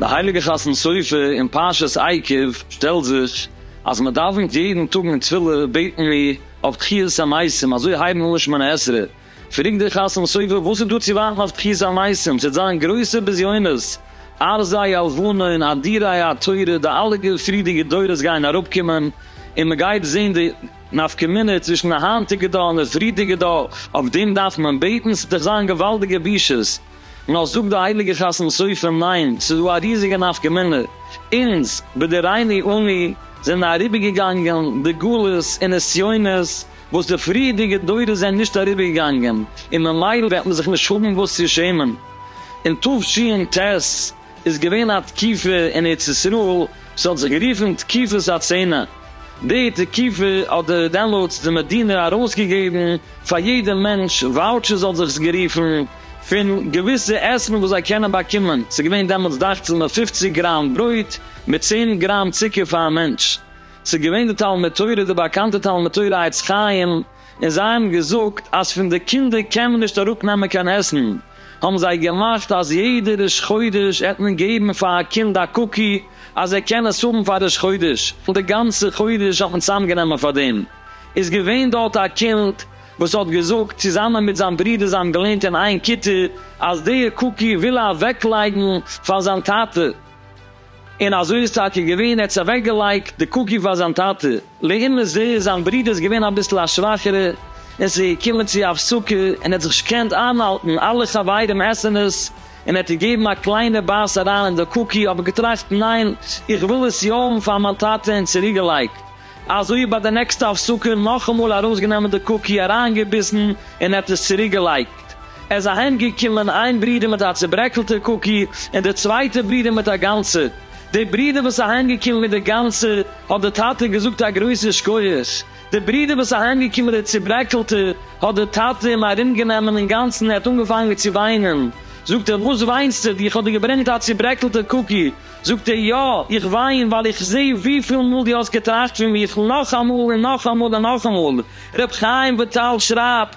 די הייליגע חתן סופר אין פרשת עקב שטעלט זיך אז מען דאווענט יעדן טאג אין תפילה בעטן מיר אויף תחיית המתים אזוי הייבן אן שמונה עשרה פרעגט דער חתם סופר וואס איז דא צו ווארטן אויף תחיית המתים, ס'עט זיין גרויסע בזיונות, ארזי הלבנה און אדירי התורה, די אלע פריערדיגע דורות גייען אראפקומען, און מ'גייט זען די נפקא מינה צווישן די היינטיגע דור און די פריערדיגע דור, אויף דעם דארף מען בעטן? ס'עט דאך זיין געוואלדיגע בושות. נאר זאגט דער הייליגער חתם סופר ניין, ס'איז דא א ריזיגע נפקא מינה, אונז, בדורינו אנו, זענען אריבערגעגאנגען די גלות און נסיונות, וואס די פריערדיגע דורות זענען נישט אריבער געגאנגען, און ממילא וועט מען זיך נישט האבן וואס צו שעמען. אין תשנ ט איז געווען א תקופה אין ארץ ישראל וואס האט זיך גערופן תקופת הצנע, די תקופה האט די דעמאלטס די מדינה ארויס געגעבן פאר יעדע מענטש וואוטשערס האט זיך עס גערופן, פון געוויסע עסן וואס זיי קענען באקומען, ס'איז געווען דעמאלטס דאכט זיך מיט פופציג גראם ברויט מיט צען גראם צוקער פאר א מענטש. ס'איז געווען די תלמוד תורה, די באקאנטע תלמוד תורה עץ חיים, און זיי האבן געזאגט אז פון די קינדער קען מען נישט אראפנעמען קיין עסן, האבן זיי געמאכט אז יעדע ראש חודש וועט מען געבן פאר א קינד א קוקי אז ער קען עס האבן פאר ראש חודש, און די גאנצע חודש האט מען צוזאמגענומען פאר דעם. איז געווען דארט א קינד וואס האט געזאגט צוזאמען מיט זיין ברודער, זיי האבן געלערנט אין איין כיתה, אז די קוקי וויל ער אוועקלייגן פאר זיין טאטע. און אזוי איז טאקע געווען, ער האט עס אוועקגעלייגט די קוקי פאר זיין טאטע, לעומת זה איז זיין ברודער איז געווען אביסל א שוואכערע און עס איז געקומען צו א הפסקה און ער האט זיך נישט געקענט איינהאלטן, אלע חברים עסן עס און ער האט געגעבן א קליינע בייס אריין אין די קוקי אבער געטראכט ניין איך וויל עס יא האבן פאר מיין טאטע און צוריקגעלייגט, אזוי ביי די נעקסטע הפסקה נאכאמאל ארויסגענומען די קוקי אריינגעביסן און ער האט עס צוריקגעלייגט. ט, עס איז אהיימגעקומען איין ברודער מיט א צוברעקלטער קוקי, און דער צווייטער ברודער מיט א גאנצער. דער ברודער וואס איז אהיימגעקומען מיט דער גאנצער, האט דער טאטע געזאגט א גרויסער שקויעכס. דער ברודער וואס איז אהיימגעקומען מיט דער צוברעקלטער, האט דער טאטע אים ארומגענומען אינגאנצן און ער האט אנגעפאנגען צו וויינען. זאגט ער, וואס וויינסטו? דיך האט דיר געברענגט א צוברעקלטער קוקי. זאגט ער, יא, איך וויין, ווייל איך זעה וויפיל מאל דו האסט געטראכט פון מיך נאכאמאל און נאכאמאל און נאכאמאל. ר' חיים וויטאל שרייבט,